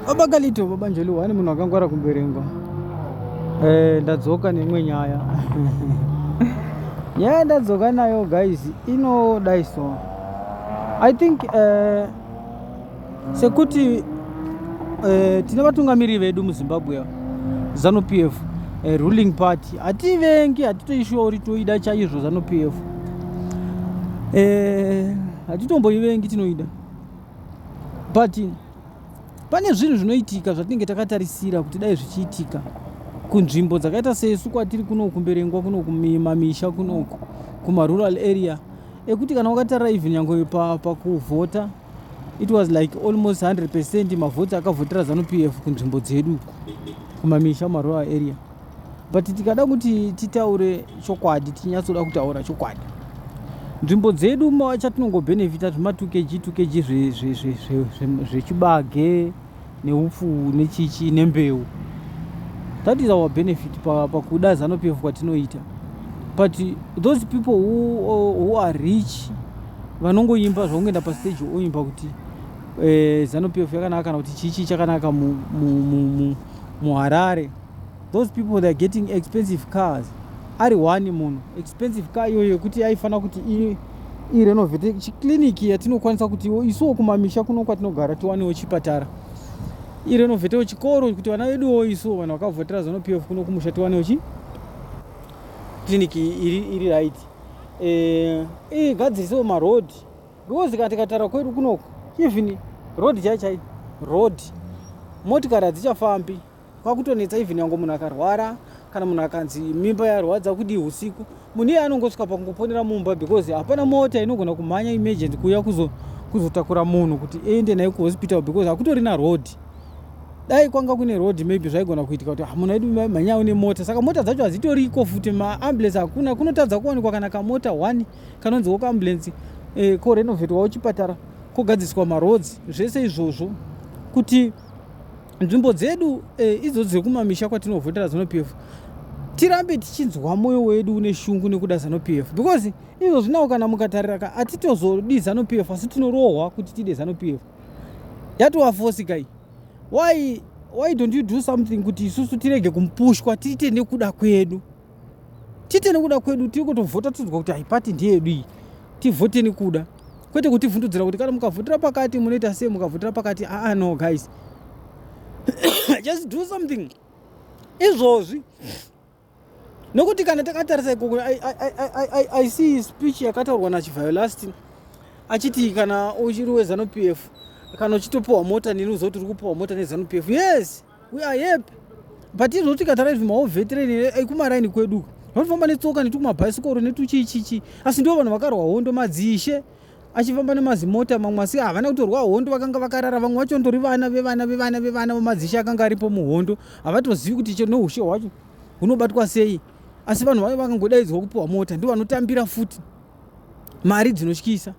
Baba Kalito, baba Njoli wani munhu akangwara kumberengwa. Eh, ndadzoka neimwe nyaya. nyaya ndadzoka nayo guys inodai so. I think eh, sekuti eh, tine vatungamiri vedu muZimbabwe Zanu PF eh, ruling party hativengi hatitoishori toida chaizvo Zanu PF eh, hatitomboivengi tinoida but pane zvinhu zvinoitika zvatinenge takatarisira kuti dai zvichiitika kunzvimbo dzakaita sesu kwatiri kunoku kumberengwa kunoku mamisha kunoku kumarural area ekuti kana wakatarira even yange pakuvhota pa it was like almost 100 percent mavhoti akavhotera zanupf kunzvimbo dzedu kumamisha kumarural area but tikada kuti titaure chokwadi tinyatsoda kutaura chokwadi nzvimbo dzedu chatinongobhenefita zvima 2 kg 2 kg zvechibage neupfu nechichi nembeu that is our benefit pakuda pa zano pf kwatinoita but those people who, who are rich vanongoimba zvakungoenda pastage oimba kuti eh, zano pf yakanaka kana kuti chichi chakanaka muharare mu, mu, mu, mu Those people they're getting expensive cars ari one munhu expensive car iyoyo yekuti yaifanira kuti irenovate chiclinic yatinokwanisa kuti isuwo kumamisha kuno kwatinogara tiwanewo chipatara irenovatewo chikoro kuti vana veduwo isuwo vanhu vakavhotera zano pf kuno kumusha tiwanewo chi clinic iri, iri right eh, igadzirise e, maroad because kana tikatara kwedu kunoko even road chai chai road motikari hadzichafambi kwakutonetsa even yango munhu akarwara kana munhu akanzi mimba yarwadza kudii usiku munhu iye anongosvika pakungoponera mumba because hapana mota inogona kumhanya emergency kuuya kuzotakura munhu kuti ende naye kuhospital because hakutorina road dai kwanga kune road maybe zvaigona kuitika kuti ah, munhu aidu manyawo nemota saka mota dzacho hadzitoriko futi maambulance hakuna kunotadza kuwanikwa kana kamota one kanonziwo kaambulance eh, korenovetwawo chipatara kogadziswa maroads zvese izvozvo kuti nzvimbo dzedu e, idzo dzekumamisha kwatinovhotera zanupf tirambe tichinzwa mwoyo wedu une shungu nekuda zanupf because izvo zvinawo kana mukatarira ka hatitozodi zanupf asi tinorohwa kuti tide zanupf yatowafosi kai why, why don't you do something kuti isusu tirege kumupushwa tiite nekuda kwedu tiite nekuda kwedu tiri kutovhota tinzwa kuti haipati ndiyedu iyi tivhote nekuda kwete kutivhundudzira kuti kana mukavhotera pakati munoita sei mukavhotera pakati aa no guys just do something izvozvi nokuti kana takatarisa ikoko i see speech yakataurwa nachivhayo last achiti kana uchiri wezanupf kana uchitopiwa mota neni uziva kuti uri kupiwa mota nezanupf yes We are happy but tinoda kuti kataraidhi maovetireni ekumaraini kwedu vanofamba netsoka netukumabhaisikoro netuchichichi asi ndivo vanhu vakarwa hondo madzishe achifamba nemazimota mamwe asi havana kutorwa hondo vakanga vakarara vamwe vacho ndori vana vevana vevana vevana vamadzishe akanga aripo muhondo havatozivi kuti chero neushe hwacho hunobatwa sei asi vanhu vave vakangodaidzwa kupiwa mota ndivo vanotambira futi mari dzinotyisa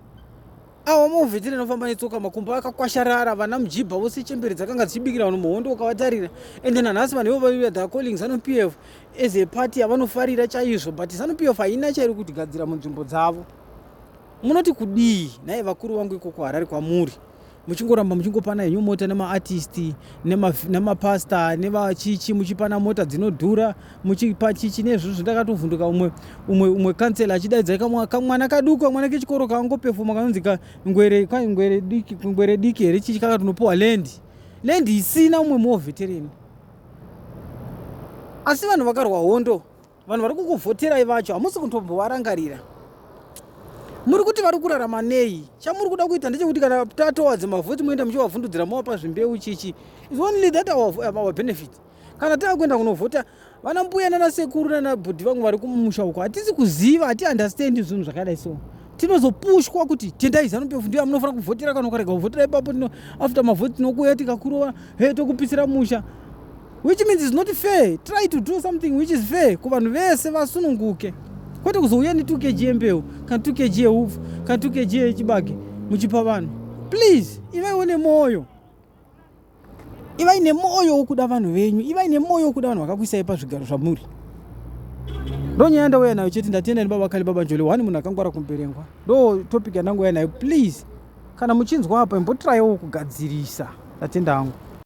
awa mauvheti rinofamba netsoka makumbo akakwasharara vana mujibha vose chembere dzakanga dzichibikira vanhu muhondo ukavatarira ende nanhasi vanhu ivo vaiuya the calling zanu p f as a party yavanofarira chaizvo but zanu p f haina chairi kutigadzira munzvimbo dzavo munoti kudii nhaye vakuru vangu ikoko harari kwamuri muchingoramba muchingopana henyu mota nemaartisti nemapasta nevachichi muchipana mota dzinodhura muchipachichi nezvizvi ndakatovhunduka umwe umwe umwe kansela achidaidza kamwana kaduku kamwana kechikoro kangopefuma kanonzi kangwere kangwere diki kangwere diki here chichi kakatonopiwa land land isina umwe muovetereni asi vanhu vakarwa hondo vanhu vari kukuvhoterai vacho hamusi kutombovarangarira muri kuti vari kurarama nei chamuri kuda kuita ndechekuti kana tatowadze mavhoti moenda muchivavhundudzira mowapa zvimbeu chichi is only that our, our benefit kana tava kuenda kunovhota vana mbuya nana sekuru nana bhudhi vangu vari kumusha uko hatisi kuziva hati understand zvinhu zvakadai so tinozopushwa kuti tendai zanu pefu ndiyo amunofanira kuvhotera kana ukarega kuvhotera ipapo tino after mavhoti tinokuuya tikakurova he tokupisira musha which means is not fair try to do something which is fair ku vanhu vese vasununguke kwete kuzouya ne 2 kg yembeu kana 2 kg yeupfu kana 2 kg yechibage muchipa vanhu please ivaiwo nemwoyo ivai nemwoyo wokuda vanhu venyu ivai nemwoyo wokuda vanhu vakakuisai pazvigaro zvamuri ndo nyaya ndauya nayo chete ndatenda nebaba kale baba njole one munhu akangwara kumberengwa ndo topic yandangouya nayo please kana muchinzwa apa imbotiraiwo kugadzirisa ndatenda hangu